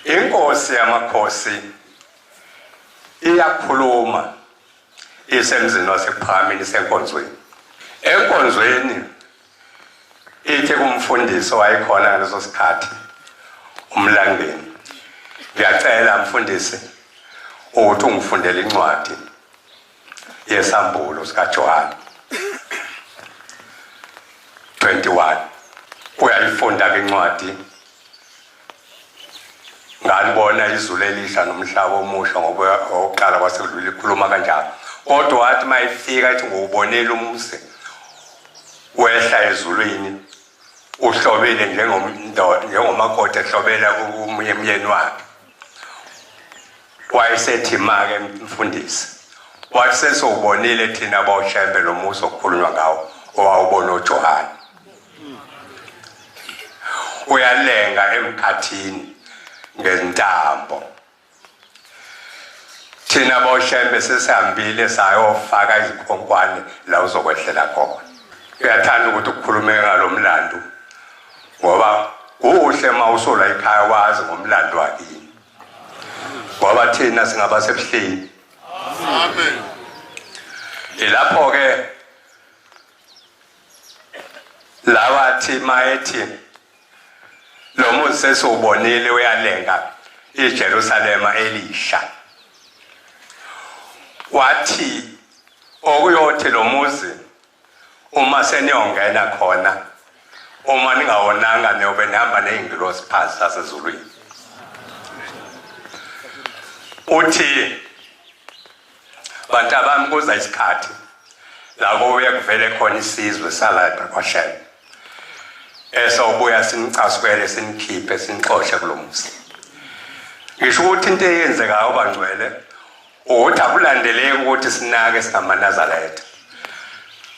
Inkosi yamakhosi iyakhuluma isemzini wasekuphakhameni senkonzweni enkonzweni ithi kumfundisi wayekhona ngaleso sikhathi umlandeni ngiyacela mfundisi ukuthi ungifundele incwadi yesambulo sikaJohane 21 uyayifunda ke incwadi ngalibona izulu elisha nomhlaba omusha ngoba oqala kwasekudlula ikhuluma kanjalo kodwa wathi mayifika ethi ngowubonela umse wehla ezulwini uhlobile njengomakoti ehlobela umyeni wakhe wayesethi make mfundisi wathi sesowubonile thina bawushembe lo musa okukhulunywa ngawo owawubona ujohane uyalenga emkhathini ngentambo thina bawushembe sesihambile sayofaka izikhonkwane la uzokwehlela khona uyathanda ukuthi ukhulume ngalo mlando ngoba kuhle uma usola ikhaya wazi ngomlando wakini ngoba thina singaba sebuhleni amen ilapho-ke lawathi mayethi lo muzi sesiwubonile uyalenga ijerusalema elisha wathi okuyothi lo muzi uma seniyongena khona uma ningawonanga niyobe nihamba ney'ngilosi phansi lasezulwini uthi bantu abami kuza isikhathi labo uye kuvele khona isizwe salapha kwashela esawubuya sinicasukele sinikhiphe sinixoshe kulo muzi ngisho ukuthi into eyenzekayo bangcwele ukuthi akulandeleki ukuthi sinake singamanazaretha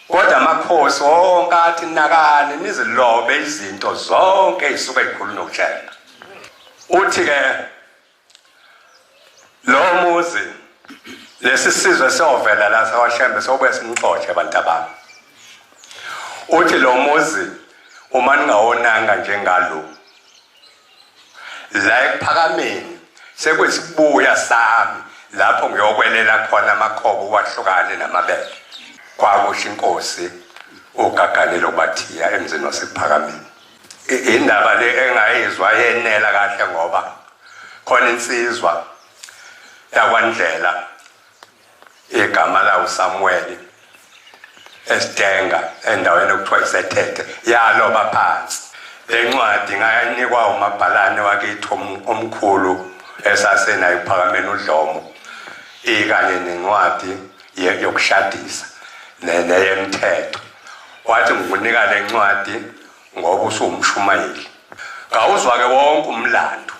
kodwa amakhosi wonke athi nakani nizilobe izinto zonke ezisuke zikhulu nokuhlela uthi ke lo muzi lesi sizwe siyovela la sawashembe sobuye simxotshe abantu abami uthi lo muzi uma ningawonanga njengalo la ekuphakameni sekwesibuya sami lapho ngiyokwelela khona amakhobo wahlukane namabele kwakusho inkosi ugaganelo bathiya emzini wasephakameni indaba le engayizwa yenela kahle ngoba khona insizwa yakwandlela igama lawo Samuel esitenga endaweni okuthiwa isethethe yaloba phansi lencwadi ngayanikwa umabhalane wakithi omkhulu esasenayo uphakameni udlomo ikanye nencwadi yokushadisa neyemthetho wathi ngikunika lencwadi ngoba usuwumshumayeli kawuzwa ke wonke umlando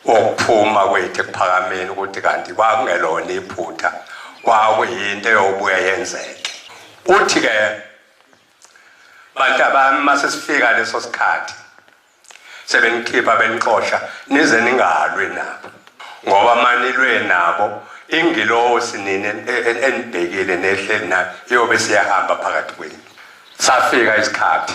wokuphuma kwethu ekuphakameni ukuthi kanti kwakungelona iphutha kwakuyinto eyobuye yenzeke uthi ke bantu abami uma sesifika leso sikhathi sebenikhipha benixosha nize ningalwi nabo ngoba manilwe nabo ingilosi nini enibhekile nehleli nayo iyobe siyahamba phakathi kwenu safika isikhathi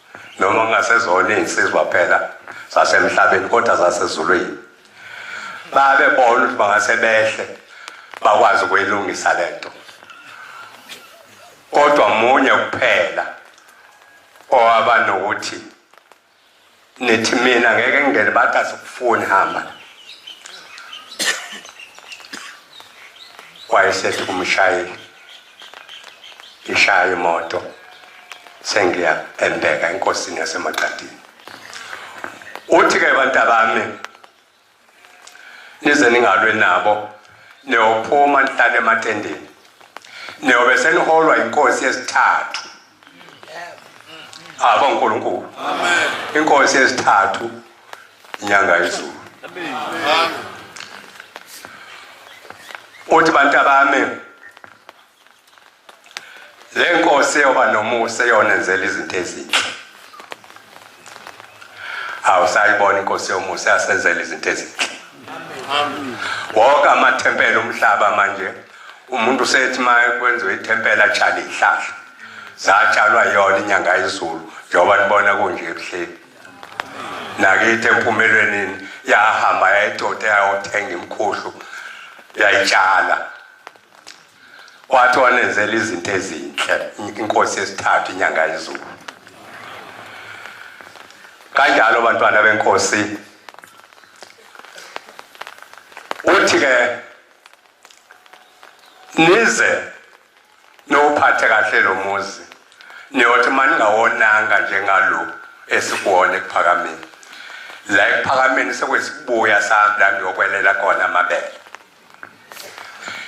noma kungasezona iy'nsizwa phela zasemhlabeni kodwa zasezulwini babebona ukuthi bangase behle bakwazi ukuyilungisa le nto kodwa munye kuphela owaba nokuthi nithi mina ngeke ngingene bathi asikufuni hamba wayesethi kumshayeli ngishaye imoto sengiya embeka enkosini yasemaqadini uthi ke bantabami nize ningalwe nabo niyophuma nihlale ematendeni niyobe seniholwa inkosi yesithathu abo nkulunkulu inkosi yesithathu inyanga izulu uthi bantu abami le nkosi eyoba nomusa eyonenzela izinto ezinhle awusayibona inkosi yomusa yasenzela izinto ezinhle wonke amathempela umhlaba manje umuntu usethi ma kwenziwe ithempela atshale ihlahla zatshalwa yona inyanga yezulu njengoba nibona kunje ebuhleni nakithi empumelwenini yahamba yayidode yayothenga imkhuhlu yayitshala wathi wanenzela izinto ezinhle inkosi yesithathu inyanga yezulu kanjalo bantwana benkosi uthi-ke nize niwuphathe kahle lo muzi niyothi uma ningawonanga njengalo esikuwona ekuphakameni la ekuphakameni sekwesibuya sami la ngiyokwelela khona amabele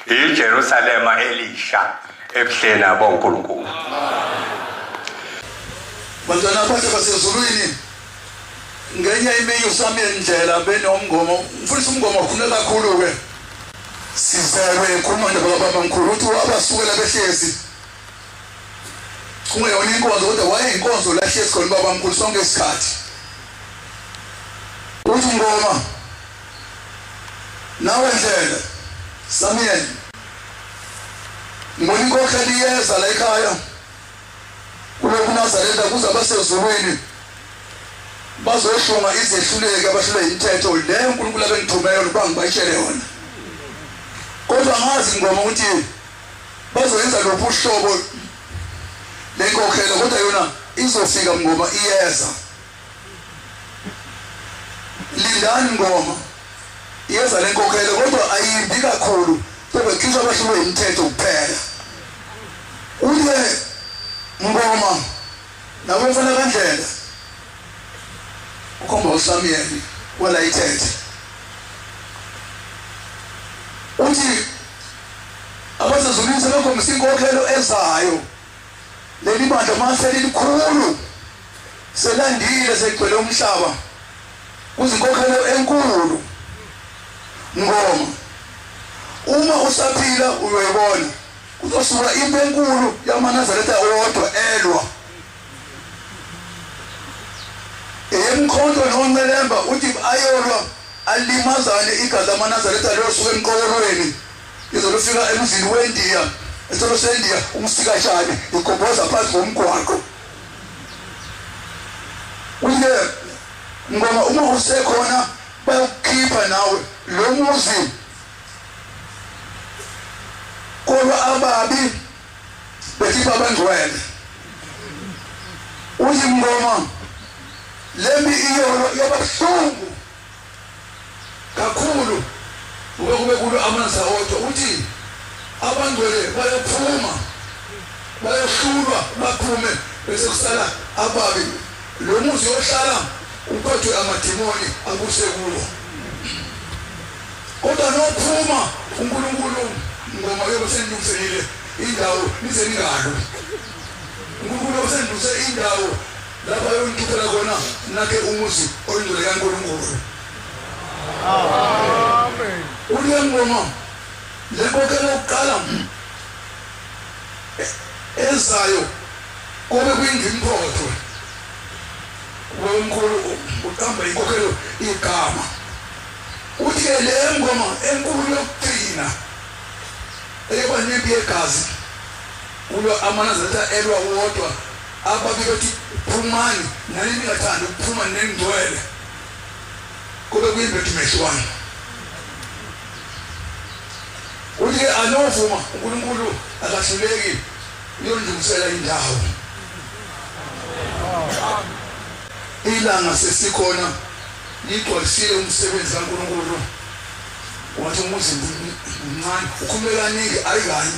ijerusalema elisha ebuhleni abonkulunkulu bantwana bakhe basezulwini ngenye imini uSamuel Ndlela benomngomo mfundisi umngomo khona kakhulu ke sizelwe ngikhuluma nje baba mkhulu uthi wabasukela behlezi kungeyona inkonzo kodwa wayeyinkonzo la hlezi khona baba mkhulu sonke isikhathi uthi ngoma nawe ndlela Samuel ngibona inkokheli iyeza la ekhaya kulokhu nazaretha kuze abasezulwini bazoshunga izehluleki abahlule imithetho le unkulunkulu abengithume yona uba ngibayitshele yona kodwa ngazi ngoma ukuthi bazoyenza luphi uhlobo lenkokhelo kodwa yona izofika ngoma iyeza Lindani ngoma iyeza lenkokhelo kodwa ayimbi kakhulu bebekhishwa abahlulwe imithetho kuphela uye ngoma nawe mfana kandlela ukhomba usamyeni wala ithethe uthi abasezulwini sebekhombisa inkokhelo ezayo Leli bandla mase lilikhulu selandile segcwele umhlaba kuzinkokhelo enkulu ngoma uma usaphila uyoyibona kuzosuka impi enkulu yamanazaretha owodwa elwa eyemkhonto noncelemba uthi ayolwa alimazane igazi lamanazaretha liyosuka emqokolweni Izolo ufika emzini weNdiya, esitolo seNdiya, umsikashane igobhoza phansi ngomgwaqo. Uye ngoba uma usekhona bayokukhipha nawe lo muzi. Kodwa ababi bethi babangcwele. Uthi ngoma lembi iyolo yabahlungu kakhulu ngoba kube kulo amanzi awodwa ukuthi abangcwele bayophuma bayohlulwa baphume bese kusala ababi lo muzi ohlala uphethwe amadimoni abuse kuwo kodwa nophuma uNkulunkulu ngoma yobe senilungiselile indawo nize ningalwi uNkulunkulu osenduze indawo Lapho ayongikhiphela khona nakhe umuzi oyingcwele kaNkulunkulu. Amen. Uliya ngoma lenkokhelo yokuqala ezayo kube kuyingimphotho womkhulu uqamba inkokhelo igama uthi ke le ngoma enkulu yokugcina eyaba nempi yegazi kulo amanazaretha elwa wodwa Abake bethi phumani nani ningathandi ukuphuma nengcwele kube kuyimbethu mehlwani uthi-ke anovuma unkulunkulu akahluleki uyondungisela indawo ilanga sesikhona ligcwalisile umsebenzi kankulunkulu wathi umuzi mncane ukhulumekaningi ayikanye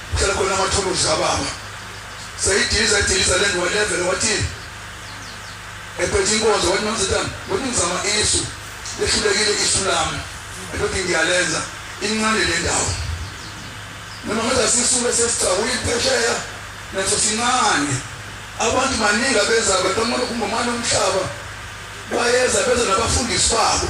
Cela khona amathuluzi kababa. Seyidiliza idiliza le ndwa level wathini? Ephethe inkonzo wathi mamzitana, wathi ngizama isu. Lehlulekile isu lami. Ephethe ngiyalenza incane le ndawo. Noma ngathi asisuke sesicawula iphesheya naso sincane. Abantu baningi abeza beqhamuka kumbomana umhlaba. Bayeza beza nabafundisi babo.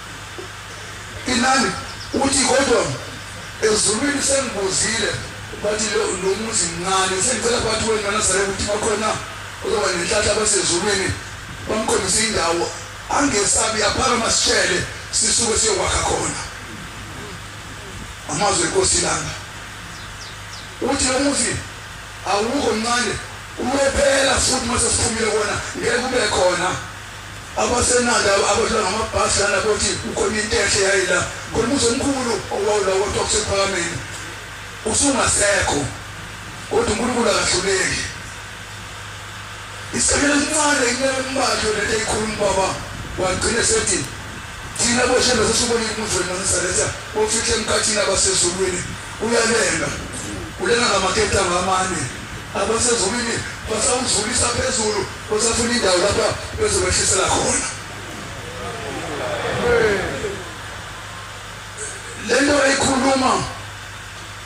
Inani uthi kodwa ezulwini sengibuzile bathi lo lo muzi mncane sengicela bathi wena uNazaretha ukuthi bakhona ozoba nenhlanhla basezulwini bamkhombise indawo angesabi aphakama sitshele sisuke siyokwakha khona amazwi enkosi ilanga uthi lo muzi awukho mncane uyophela futhi uma sesiphumile kona ngeke kube khona Abasenanda abadlula ngamabhasi lana bothi kukhona into enhle yayila khona umuzi omkhulu owawula kodwa kusephakameni usungasekho kodwa uNkulunkulu akahluleki isikhathela sincane inyaka embalyo lento eyikhuluma ubaba wagcina sethi thina boshembe sesubonile umuzi wenu nanisaletha bofihle emkhathini abasezulwini uyalenga ulenga ngamaketanga amane abasezulwini basawuzulisa phezulu Usafuna indawo lapha bezokwehlisela khona. Lento ekhuluma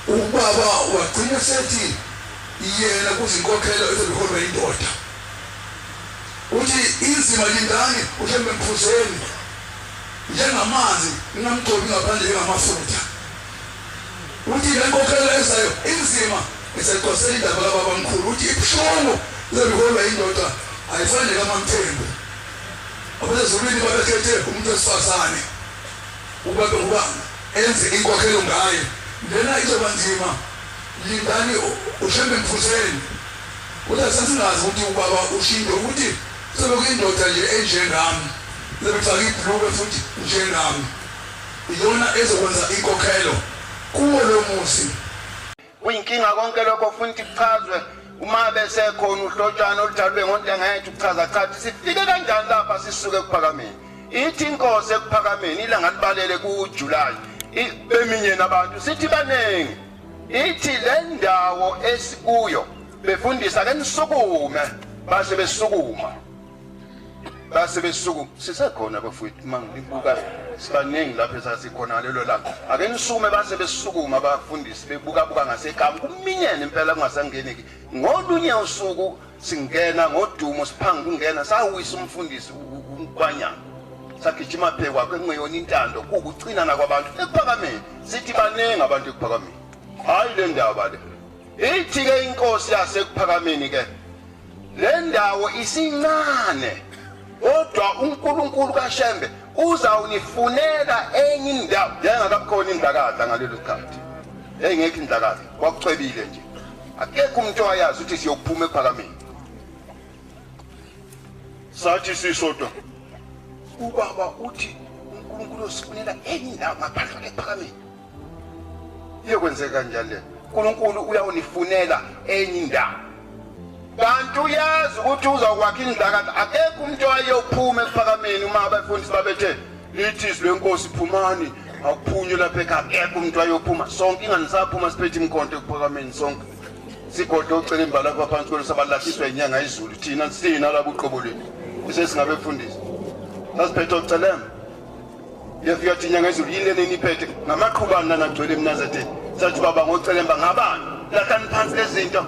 ubaba wagcina sethi yena kuzinkokhelo eziholwa indoda. Uthi inzima lindani uhlembe mphuzeni njengamanzi ngingamgcobi ngaphandle ngamafutha. Uthi le nkokhelo ezayo inzima eseqwasela indaba kababamkhulu. Uthi ibuhlungu lento iholwa yindoda ayifane nekaMaMthembu. AbaseZulwini babekhethe umuntu wesifazane ukuba abe ngubani enze inkokhelo ngaye. Lena izoba nzima lindani uShembe Mfuseni. Uthi asasingazi ukuthi ubaba uShindi ukuthi kuzobe kuyindoda nje enjengami ezobe ifake ibhulukwe futhi njengami. Iyona ezokwenza inkokhelo kuwo lo muzi. Kuyinkinga konke lokho funa ukuthi kuchazwe uma besekhona uhlotshana oludalwe ngontengayethu kuchaza chathi sifike kanjani lapha sisuke ekuphakameni ithi inkosi ekuphakameni ilanga libalele kujulayi beminyeni abantu sithi baningi ithi le ndawo esikuyo befundisa ke nisukume base besukuma base besuku sisekhona bafowethu uma ngibuka sibaningi lapho esasikhona ngalelo langa ake nisukume base besukuma abafundisi bebukabuka ngasekamu kuminyene impela kungasangeneki ngolunye usuku singena ngodumo siphanga kungena sawisa umfundisi ukwanyana sagijima phe kwakhe kungeyona intando kuwukucinana kwabantu ekuphakameni sithi baningi abantu ekuphakameni hhayi le ndaba le Ithi-ke inkosi yasekuphakameni-ke le ndawo isincane kodwa unkulunkulu kashembe uzawunifunela enye indawo yayingakabukhona indlakaza ngalelo sikhathi yayingekho indlakaza kwakucwebile nje akekho umuntu owayazi ukuthi siyokuphuma ekuphakameni sathi sisodwa ubaba uthi unkulunkulu osifunela enye indawo ngaphandle kwekuphakameni iyokwenzeka njalo le unkulunkulu uyawunifunela enye indawo kanti uyazi ukuthi uzakwakha indlakathi akekho umuntu owayeyophuma ekuphakameni uma abafundisi babethe lithi izwi lenkosi phumani awuphunywe lapha ekhaya akekho umuntu wayophuma sonke ingane saphuma siphethe imkhonto ekuphakameni sonke sigodle ocela imbala lapha phansi kwenu sabalahliswa inyanga izulu thina sina labo uqobo lwethu kusesingabe kufundisa sasiphethe ocelemba Yesu yathi inyanga ezulu yini lena eniphethe ngamaqhubani nanagcwele emnazetheni sathi baba ngocelemba ngabani lahlani phansi lezinto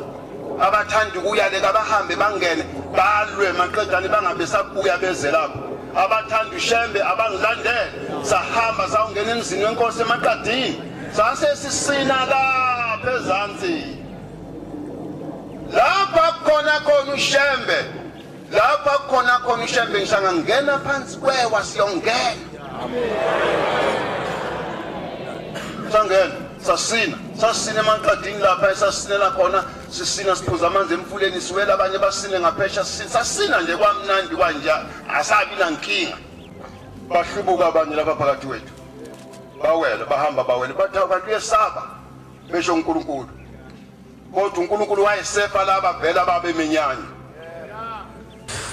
abathanda ukuyale kabahambe bangene balwe maqedane bangabe sabuya beze lapho abathanda ushembe abangilandele sahamba sawungena emzini wenkosi emaqadini sase sisina lapha ezansi lapha khona khona ushembe lapha kukhona khona ishembe ngishanga ngena phansi kwewa siyongena sangena sasina sasina emaqadini lapha esasinela khona sisina siphuza amanzi emfuleni siwela abanye basine ngaphesha sasina nje kwamnandi kwanja asabi nankinga bahlubuka abanye lapha phakathi wethu bawela bahamba bawela bathi abantu uyesaba besho uNkulunkulu kodwa uNkulunkulu wayesefa laba vela babeminyanya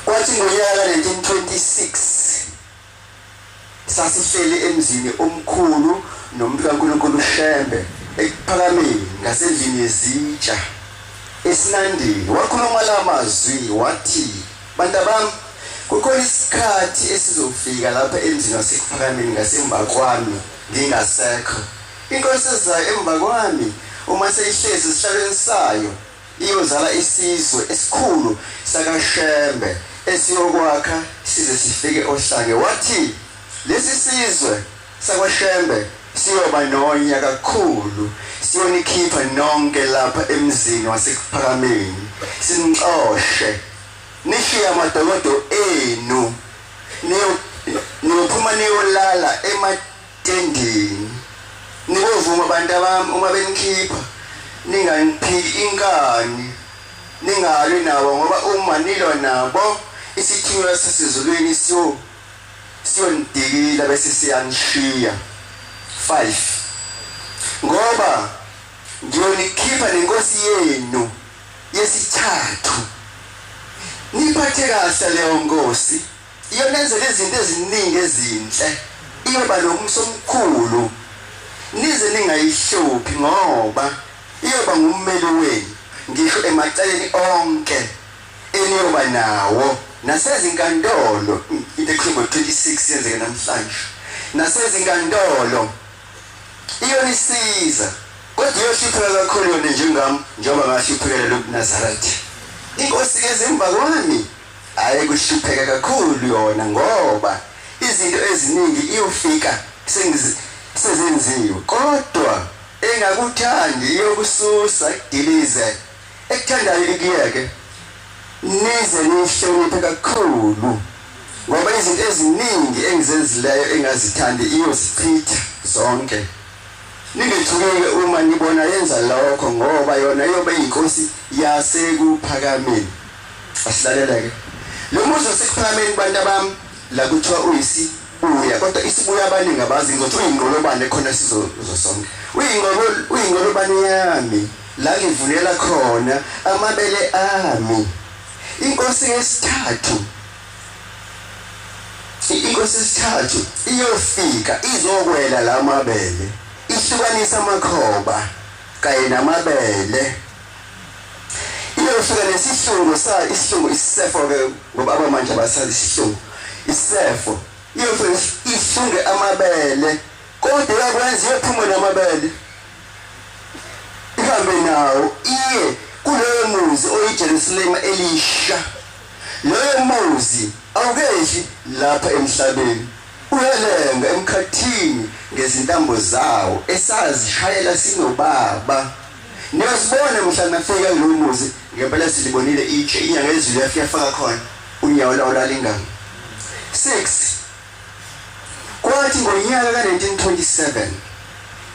kwathi ngonyaka 1926 sasihleli emzini omkhulu nomuntu kaNkulunkulu uShembe ekuphakameni ngasendlini yezitsha esinandini wakhuluma la mazwi wathi bantabami kukhona isikhathi esizofika lapha emzini wasekuphakameni ngasemva kwami ngingasekho Into esizayo emva kwami uma seyihlezi esihlalweni sayo iyozala isizwe esikhulu sakaShembe esiyokwakha size sifike oHlange wathi lesi sizwe sakwaShembe siyoba nonya kakhulu siyonikhipha nonke lapha emzini wasekuphakameni sinixoshe nishiye amadokodo enu niyophuma niyolala ema Ending. Nikuvuma bantu abami uma benikhipha ninganiphiki inkani ningalwi nabo ngoba uma nilwa nabo isithunywa sasezulwini siyo siyonidikila bese siyanishiya 5 ngoba ngiyonikhipha nenkosi yenu yesithathu niphathe kahle leyo nkosi Iyonenzela izinto eziningi ezinhle. Iyoba nomso omkhulu. Nize ningayihluphi ngoba iyoba ngummeli wenu ngisho emaceleni onke eniyoba nawo nasezinkantolo into ekhuluma 26 yenzeke namhlanje nasezinkantolo iyonisiza kodwa iyohlupheka kakhulu yona njengami njengoba ngahluphekela lokunazarathi inkosi ke zemva kwami Hhayi kuhlupheka kakhulu yona ngoba izinto eziningi iyofika sezenziwe kodwa engakuthandi iyokususa ikudilize ekuthandayo ikuyeke nize nihloniphe kakhulu ngoba izinto eziningi engizenzileyo engazithandi iyozichitha zonke ningethukile uma nibona yenza lokho ngoba yona iyobe iyinkosi yasekuphakameni Asilalele-ke. Lo muzi waseKuphakameni kubantu abami, la kuthiwa uyisi uya kodwa isibuya abaningi abazi ngokuthi uyingqolobane khona sizozo sonke uyingqolo uyingqolobane yami la ngivulela khona amabele ami inkosi yesithathu inkosi yesithathu iyofika izokwela la mabele ihlukanisa amakhoba kanye namabele Iyofika nesihlungu sa isihlungu isifo ke ngoba abamanje abasazi isihlungu isifo iyofika ihlunge amabele kodwa yakwenza iyophuma namabele ihambe nawo iye kuleyo muzi oyiJerusalema elisha loyo muzi awukehli lapha emhlabeni uyalenga emkhathini ngezintambo zawo esazishayela sinobaba Niyazibona mhla nafika kulowo muzi ngempela silibonile itshe inyanga ezulu yafika faka khona unyawo lawo lalingami. 6 Kwathi ngonyaka ka-1927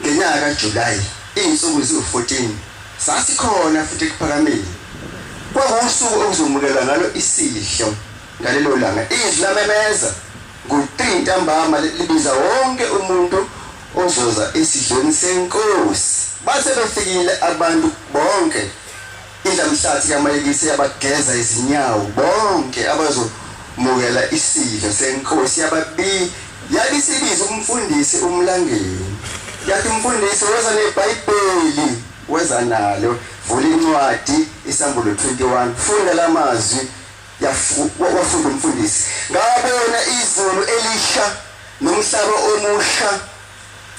ngenyanga kaJulayi izinsuku ziwu-14 sasikhona futhi ekuphakameni kwakuwusuku okuzomukelwa ngalo isidlo ngalelo langa izwi lamemeza ngo-3 ntambama libiza wonke umuntu Ozoza esidlweni senkosi. Base befikile abantu bonke. Indlamhlathi kaMayekisi yabageza izinyawo bonke abazomukela isidlo senkosi yababi yabisibiza umfundisi umlangeni. Yathi umfundisi weza neBhayibheli weza nalo vula incwadi iSambulo 21 funda lamazwi Yafu- wafunda umfundisi ngabona izulu elisha nomhlaba omusha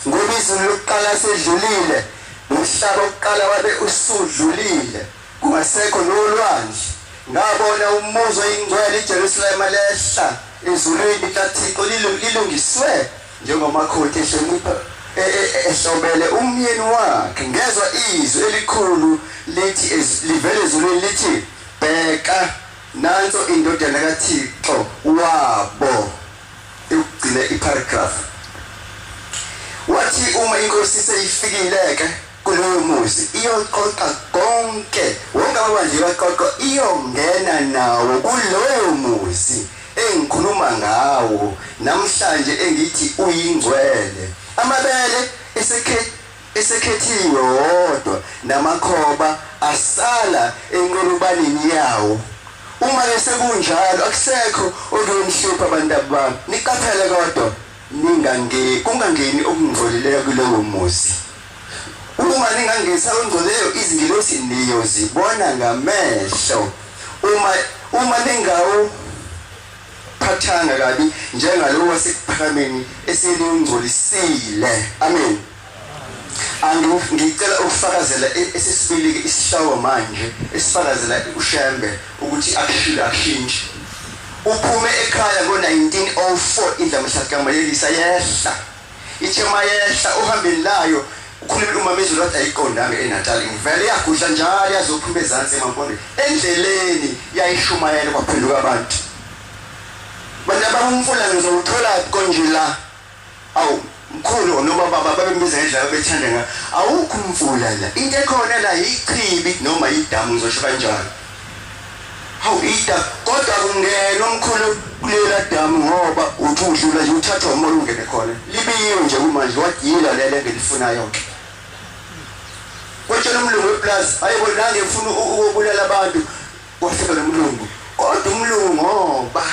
ngoba izulu lokuqala selidlulile nomhlaba wokuqala wabe usudlulile kungasekho nolwandle ngabona umuzi oyingcwele ijerusalema lehla ezulwini likathixo lilu- lilungiswe njengomakhothi ehlonipha e- e- e- ehlobele umyeni wakhe ngezwa izwi elikhulu lithi ez- livela ezulwini lithi Bheka, nanso iNdodana kaThixo wabo. Yokugcina iparagraph. Wathi uma inkosi seyifikile-ke kulowo muzi iyoqoqa konke, wonke amabandla iwaqoqo, iyongena nawo kulowo muzi engikhuluma ngawo namhlanje engithi uyingcwele. Amabele esekhe esekhethiwe wodwa namakhoba asala enqolobaneni yawo uma ke sekunjalo akusekho okuyomhlupha abantu abami niqaphele kodwa ningange kungangeni okungcolileyo kulowo muzi uma ningangisa ongcolileyo izingilosi niyozibona ngamehlo uma uma ningawu phathanga kabi njengalowo wasekuphakameni eselingcolisile amen andu ngicela ukufakazela e-, esesibili isihlawo manje esifakazela ushembe ukuthi akushile akushintshe uphume ekhaya ngo-1904 indlamhlakamalelisa yehla Ithe mayehla ohambeni layo ukhulumile umamezulu wathi ayiqondanga eNatal ngivele yagudla njalo yazophuma ezansi emampondweni endleleni yayishumayela kwaphenduka abantu bantu abamfula ngizowuthola konje la awu mkhulu noma baba babembiza ngendlela bethanda ngayo awukho umfula la into ekhona la yichibi noma yidamu ngizosho kanjalo Hawu Ida kodwa kungena umkhulu kulela damu ngoba uthi udlula nje uthathwa umoya ungene khona. Libiyiwe nje kumanje wadila lele engilifunayo ke. Kwetshela umlungu weplaza hayibo nange ngifuna ukubulala abantu kwafika nomlungu. Kodwa umlungu ngoba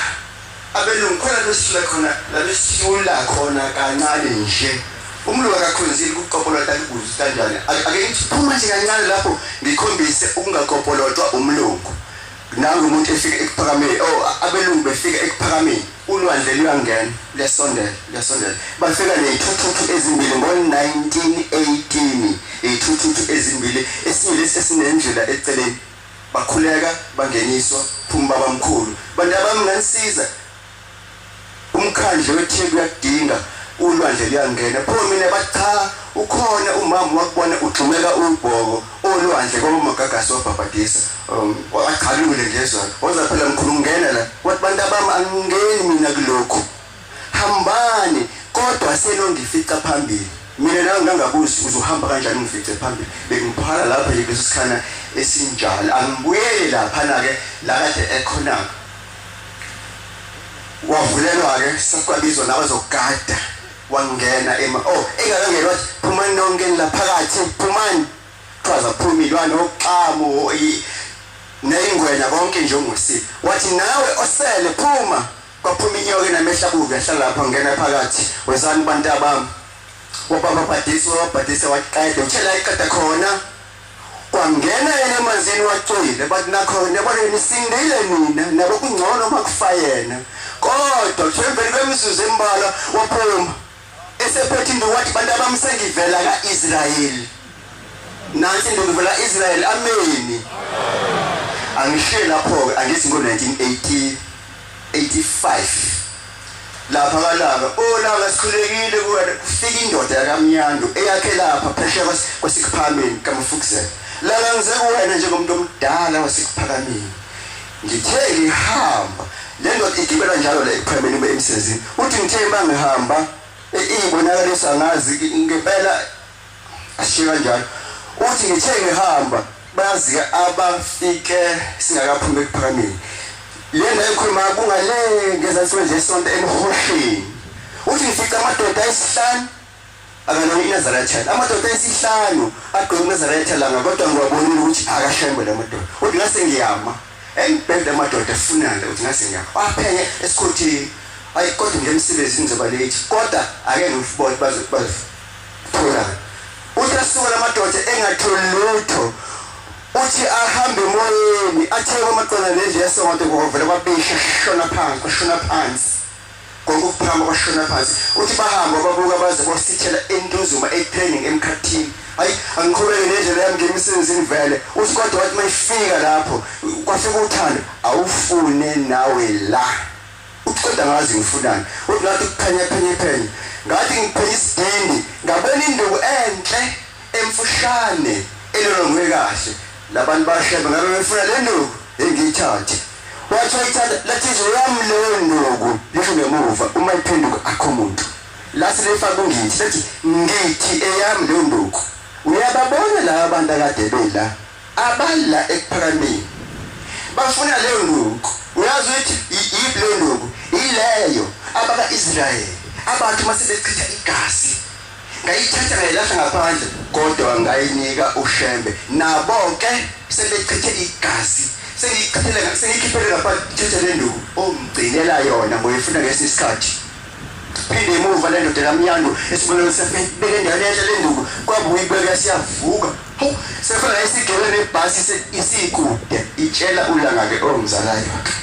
Abelungu khona besisula khona la besisula khona kancane nje. Umlungu akakhonzile ukukopolota kukuze kanjani. Ake ngithi phuma nje kancane lapho ngikhombise ukungakopolotwa umlungu. Nangu umuntu efika ekuphakameni. Oh, abelungu befika ekuphakameni. Ulwandle luyangena, luyasondela, luyasondela. Bafika nezithuthuthu ezimbili ngo-1918, izithuthuthu ezimbili, esinye lesi esinendlela eceleni. Bakhuleka bangeniswa phuma babamkhulu. Bantabami nganisiza umkhandlu weTheku uyakudinga ulwandle luyangena pho mina bathi cha ukhona umama wakubona ugxumeka ubhoko olwandle kwaba magagasi wabhabhadisa um, wagchalule ngezwa waza phela mkhulu ngena la wathi bantabami angingeni mina kulokhu hambani kodwa senongifica phambili mina nawe ngangakuzi uzohamba kanjani ungifice phambili bengiphala lapha nje kuleso sikhana esinjalo angibuyele laphana-ke la kade ekhona-ke wavulelwa-ke sakwabizwa nabazogada wangena ema o oh, engakangena wathi phumani nonke nilaphakathi phumani kuthiwa zaphuma ilwane oxamu neyingwenya konke nje ongusile wathi nawe osele phuma Kwaphuma inyoka enamehla kubi yahlala lapha ngingena phakathi. Wezani bantabami. Wabababhadisa wababhadisa waqeda uthela iqeda khona. Kwangena yena emanzini wacwile bathi nakho nabo nisindile nina nabo kungcono makufayena. Kodwa kuthiwa emveni kwemizuzu embalwa waphuma. Esephethindo wathi bantu abami sengivela ka-Israyeli. Nansi ntombi vela ka-Israyeli. Ameni. Angishiye lapho-ke angithi ngo-1985 lapha kalaka olaka oh, sikhulekile kuwena kufika indoda yakamnyandu eyakhe lapha phesheya kwasikuphameni kamfukuzela lala ngize kuwena njengomuntu omdala wasikuphakameni Ngithe ngihamba le ndoda igibela njalo le ekuphemeni ube emsezini uthi ngithe uma ngihamba iyibonakaliso angazi ngempela ashiye kanjalo uthi ngithe ngihamba bazi-ke abafike singakaphumi ekuphakameni lena ekhuluma kungale ngezansi kwenje esonto emhosheni uthi ngifica amadoda ayisihlanu akanayo inazaretha amadoda esihlanu agqoke inazaretha langa kodwa ngiwabonile ukuthi akashembe la madoda uthi ngase ngiyama engibhede amadoda efunana ukuthi ngase ngiyama waphenye esikhothini ayi kodwa nje emsebenzini ngizoba late kodwa ake ngifubone bazothola uthi asuka la madoda engatholi lutho uthi ahambe emoyeni atheke amaqola nendlu yasonto kuvele kwabisha shona phansi shona phansi Konke ukuphakama kwashona phansi. Uthi bahamba babuka baze bosithela entuzuma etraining emkhathini. Hayi angiqhubeke nendlela yami ngemisebenzini vele. Uthi kodwa wathi mayifika lapho kwafika uthando awufune nawe la. Uthi kodwa ngazi ngifunani. Uthi ngathi ukuphenya phenya phenya. Ngathi ngiphenya isidindi ngabona induku enhle emfushane elolongwe kahle. Labantu bashebe ngabe befuna le nduku engiyithathe. Wathi wayithanda lathi izwe yami leyo nduku lisho ngemuva uma iphenduka akho muntu. Lathi lifaka ungithi lathi ngithi eyami leyo nduku. Uyababona laba abantu akade bela abala ekuphakameni. Bafuna leyo nduku. Uyazi ukuthi yiphi leyo nduku? Ileyo abaka-Israyeli abantu uma sebechitha igazi ngayithatha ngayilahla ngaphandle kodwa ngayinika ushembe nabo ke sebechithe igazi sengichithele sengikhiphele ngaphandle thethe le nduku ongigcinela yona ngoyifuna ngesi sikhathi phinde emuva le ndoda lamyando esibonelo sefebeke endaweni enhle le nduku kwabuye ibeke siyavuka hawu sefuna isigele nebhasi isikude itshela ulanga ke ongizalayo akhe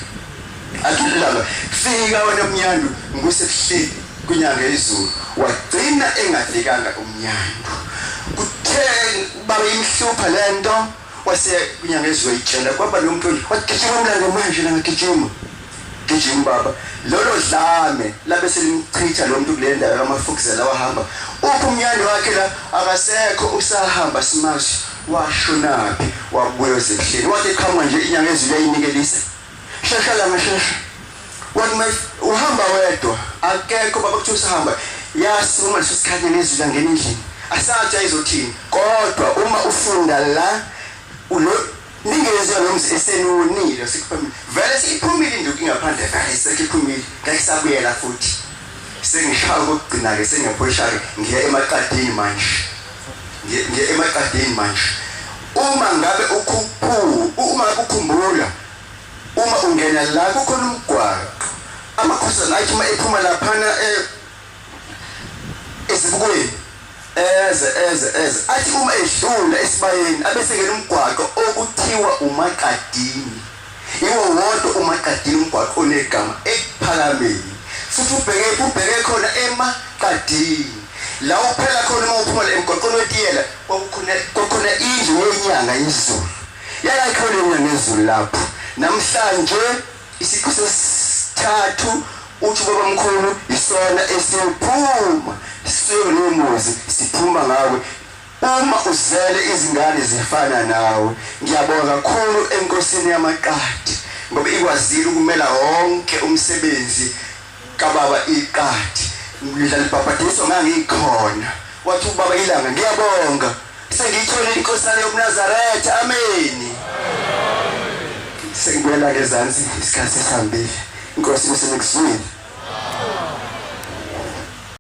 athi ulanga fika wena mnyandu ngikusebuhleli Kunyanga izulu wagcina engafikanga umnyango. Kuthe baba imhlupha lento wase kunyanga izulu ayitshela kwaba lo mfundi wagijima umlando manje la ngigijima. Gijima baba lolo dlame labe selimchitha lo muntu kule ndawo kamafukuzela wahamba uphi umnyando wakhe la akasekho usahamba simashi washonaphi wabuya ezehleni wathi qhamuka nje inyanga ezulu yayinikelisa Hlehla la ngehlehla. One my uhamba wedwa. Akekho baba kuthi usahamba. Yasi uma leso sikhathi nezwi langena endlini. Asatsha izothini. Kodwa uma ufunda la ulo ningenze nomzi esenonile sikuphumile. Vele siphumile induku ingaphandle vele sekuphumile. Ngeke sabuyela futhi. Sengishaya ukugcina ke sengephoshake ngiya emaqadini manje. nje nje emaqadeni manje uma ngabe ukhuphu uma ukhumbula uma ungena la kukhona umgwaqo amakhosana athi uma ephuma laphana eh, esibukweni eze eze eze athi uma edlula esibayeni abesengena umgwaqo okuthiwa umaqadini Yiwo wodwa umaqadini umgwaqo onegama ekuphakameni futhi ubheke ubheke khona emaqadini la uphela khona uma uphuma le mgwaqweni wetiyela kwakukhona kwakukhona indlu yenyanga yezulu yayakhiwe le nyanga yezulu lapho namhlanje isiqu sesithathu uthi ubabamkhulu isona esiyophuma siyonemuzi siphuma ngawe Uma uzele izingane zifana nawe ngiyabonga kakhulu enkosini yamaqadi ngoba ikwazile ukumela wonke umsebenzi kababa iqadi ngidlala ibhabhadiso ngangikhona wathi ubaba ilanga ngiyabonga sengiyithole inkosana yobunazaretha ameni sengibuyela ngezansi isikhathi sihambile inkosi isenekuzwile